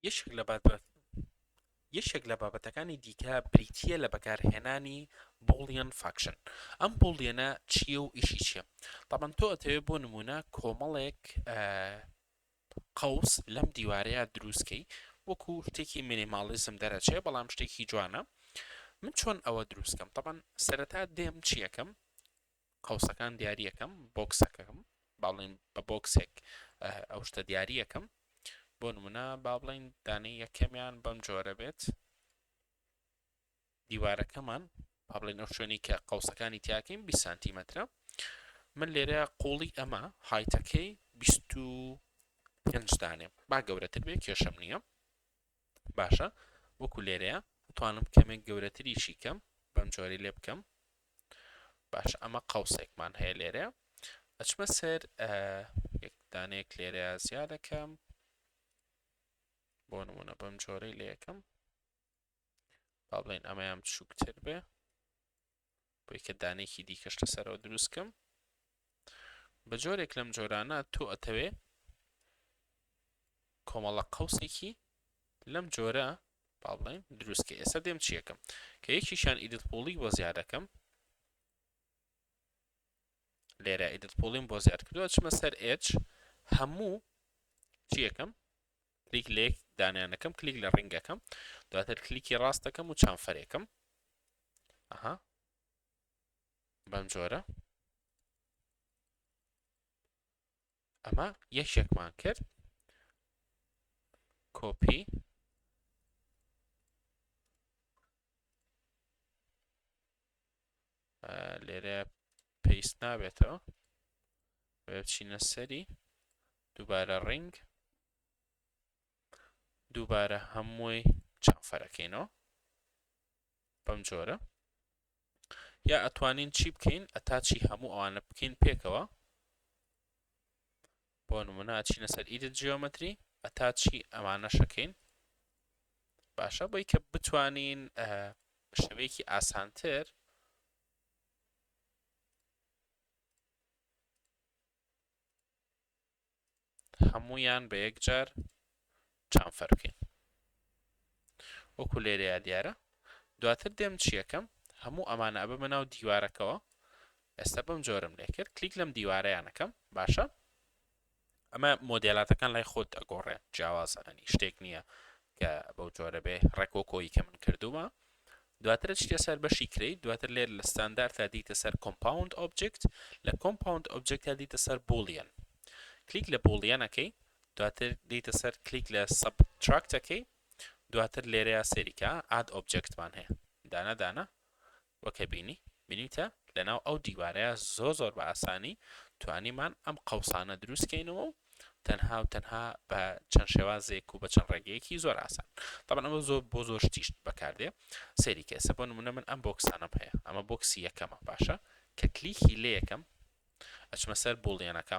یەکێک لە بابەت یەکێک لە بابەتەکانی دیکە بریتیە لە بەکارهێنانی بۆڵیان فاکشن ئەم بۆڵیەنە چییە و ئیشی چیە تاان تۆ ئەتەوێت بۆ نمونە کۆمەڵێک قوس لەم دیوارەیە دروستکەی وەکو شتێکی مینیماڵیزم دەرەچێ بەڵام شتێکی جوانە من چۆن ئەوە دروستکەم تاان سەرەتا دێم چیەکەم قوسەکان دیاریەکەم بۆکسەکەم با بڵێین بە بۆکسێک ئەو شتە دیاریەکەم بۆ نمونە با بڵێین دانەی یەکەمیان بەم جۆرە بێت دیوارەکەمان با بڵێن ئەو شوێنی کە قوسەکانی تیاکەین 20 سانتیمەترە من لێرە قوڵی ئەمە هایتەکەی 25 دانێ با گەورەتر بێ کێشەم نییە باشە وەکو لێرەیە بتوانم کەمێک گەورەتریشی کەم بەم جۆری لێ بکەم باشە ئەمە قەوسێکمان هەیە لێرە ئەچمە سەر یەکدانەیەک لێرە زیادەکەم بۆ نمونە بەم جۆرەی لە یەکەم با بڵێن ئەمەیان بچووکتر بێ بۆ یکە دانێکی دیکەش لەسەرەوە دروست کەم بە جۆرێک لەم جۆرانە تۆ ئەتەوێ کۆمەڵە قەوسێکی لەم جۆرە با بڵێن دروست کە ئێستا دێم چیەکەم کە یەکیشان ئیدت پۆڵی بۆ زیادەکەم لێرە ئیدت پۆڵیم بۆ زیاد کردووە چمە سەر ئێچ هەموو چیەکەم کلیک لە یەک دانیان دەکەم کلیک لە ڕنگەکەم دواتر کلیکی ڕاست دەکەم و چانفەرێکم ئەها بەم جۆرە ئەمە یەکێکمان کرد کۆپی لێرە پێست نابێتەوە بچینە سەری دووبارە ڕنگ دووبارە هەمووی چافەرەکەینەوە بەم جۆرە یا ئەتوانین چی بکەین ئەتاچی هەموو ئەوانە بکەین پێکەوە بۆ نمونە ئەچینە سەر ئیدت جیۆمەتری ئەتا چی ئەمانەش ئەکەین باشە بۆی کە بتوانین شەوەیەکی ئاسانتر هەمویان بە یەکجار چەند فەرقین وەکو لێرەیا دیارە دواتر دێم چیەکەم هەموو ئەمانە ئەبەمە ناو دیوارەکەوە ئێستا بەم جۆرم لێ کرد کلیک لەم دیوارەیانەکەم باشە ئەمە مۆدێلاتەکان لای خۆت ئەگۆڕێ جیاوازە ئەنی شتێک نییە کە بەو جۆرە بێ ڕێکۆ کۆی کە من کردووە دواتر چتە سەر بەشی کریت دواتر لێر لە ستاندار تا دیتە سەر کۆمپاوند ئۆبجکت لە کۆمپاوند ئۆبجکت تا دیتە سەر بولیەن کلیک لە بولیەنەکەی دواتر دێیتە سەر کلیک لە سەبتراکت ئەکەی دواتر لێرەیا سێریکە ئاد ئۆبجێکتمان هەیە دانە دانە وەکە بینی بینیتە لەناو ئەو دیوارەیە زۆر زۆر بە ئاسانی توانیمان ئەم قەوسانە دروستکەینەوە و تەنها و تەنها بە چەند شێوازێک و بە چەند ڕێگەیەکی زۆر ئاسان تامان ئەمە زۆر بۆ زۆر شتیشت بەکاردێ سێری کەسە بۆ نمونە من ئەم بۆکسانم هەیە ئەمە بۆکسی یەکەمە باشە کە کلیکی لێ یەکەم ئەچمە سەر بۆڵیانەکە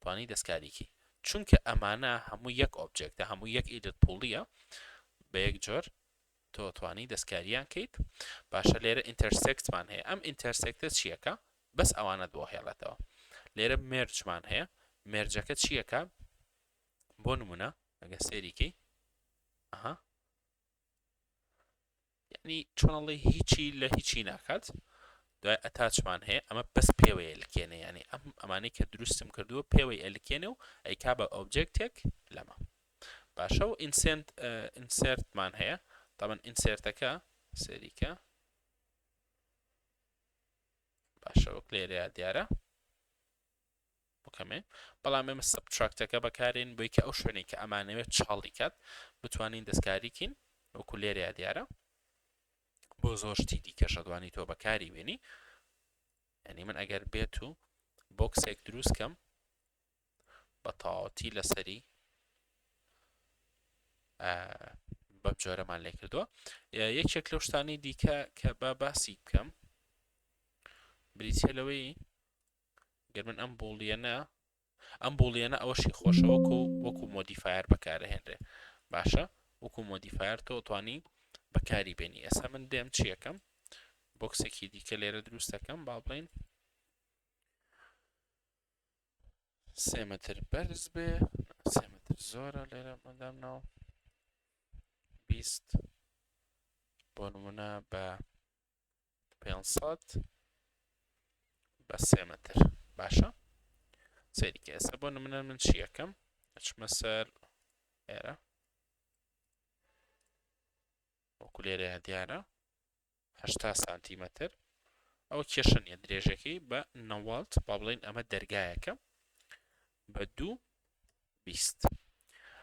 توانی دەستکاریکی چونکە ئەمانە هەموو یەک ئۆبجێکتە هەموو یەک ئیدت پوڵیە بە یەک جۆر تۆ توانی دەستکاریان کەیت باشە لێرە ئینتەرسێکتمان هەیە ئەم ئینتەرسێکتە چیەکە بەس ئەوانەت بۆ هێڵێتەوە لێرە مێرجمان هەیە مێرجەکە چیەکە بۆ نمونە ئەگە سێریکەی ئەها یەعنی چۆن ئەڵێی هیچی لە هیچی ناکات دوای ئەتاچمان هەیە ئەمە بەس پێوەی ئەلکێنێ یەعنی ئەم ئەمانەی کە دروستم کردووە پێوەی ئەلکێنێ و ئەیکا بە ئۆبجێکتێک لەمە باشە و ئینسێنت ئینسێرتمان هەیە تابەن ئینسێرتەکە سەریکە باشە وەک لێرەیە دیارە بکەمێ بەڵام ئێمە سەبتراکتەکە بەکارێن بۆی کە ئەو شوێنی کە ئەمانەوێت چاڵی کات بتوانین دەستکاریکین وەکو لێرەیە دیارە بۆ زۆر شتی دیکە شەدوانی تۆ بەکاری وێنی ینی من ئەگەر بێت و بۆکسێک دروست کەم بە تاوەتی لەسەری بەم جۆرەمان لێ کردووە یەکێک لەو شتانی دیکە کە با باسی بکەم بریتە لەوەی گەر من ئەم بوڵیەنە ئەم بوڵیەنە ئەوەشی خۆشە وەکو وەکو مۆدیفایر بەکارهێنرێ باشە وەکو مۆدیفایر تۆ توانی بەکاری بێنی ئێستا من دێم چیەکەم بۆکسێکی دیکە لێرە دروستەکەم با بڵین سێ متر بەرز بێ سێ متر زۆرە لێرە مەدام ناو بیست بۆ نمونە بە 500 بە سێ مەتر باشە سەیریکە ئێستا بۆ نمونە من چیەکەم ئەچمە سەر ئێرە وەکو لێرە دیارە هشتا سانتیمەتر ئەو کێشە نیە درێژەکەی بە نەوەڵت با بڵین ئەمە دەرگایەکە بە دوو بیست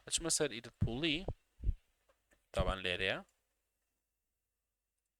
ئەچمە سەر ئیدت پوڵی تاوان لێرەیە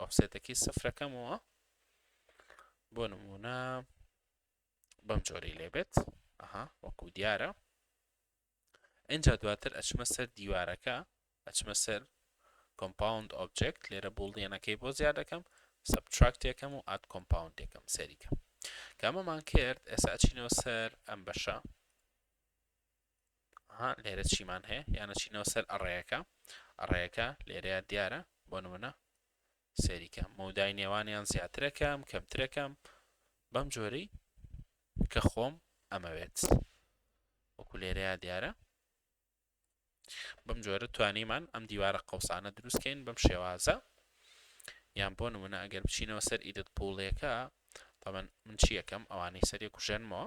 ئۆفسێتەکەی سفرەکەمەوە بۆ نمونە بەم جۆری لێبێت ئەها وەکو دیارە اینجا دواتر ئەچمە سەر دیوارەکە ئەچمە سەر کۆمپاوند ئۆبجێکت لێرە بوڵدێنەکەی بۆ زیاد دەکەم سبتراکتێکەم و ئات کۆمپاوندێکم سەریکە کامەمان کرد ئێستا ئەچینەوە سەر ئەم بەشە ها لێرە چیمان هەیە یانە چینەوە سەر ئەڕێیەکە ئەڕێیەکە لێرەیە دیارە بۆ نمونە سەریکە مەودای نێوانیان زیاترەکەم کەمترەکەم بەم جۆری کە خۆم ئەمەوێت وەکو لێرەیە دیارە بەم جۆرە توانیمان ئەم دیوارە قەوسانە دروستکەین بەم شێوازە یان بۆ نمونە ئەگەر بچینەوە سەر ئیدت پوڵێکە تەمەن من چیەکەم ئەوانەی سەرێک و ژەنمەوە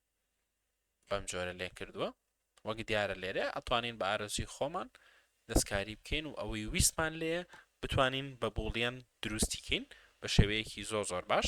بەم جۆرە لێ کردووە وەک دیارە لێرە ئەتوانین بە ئارەزوی خۆمان دەستکاری بکەین و ئەوەی ویستمان لێیە بتوانین بە بوڵیەن دروستی کەین بە شێوەیەکی زۆر زۆر باش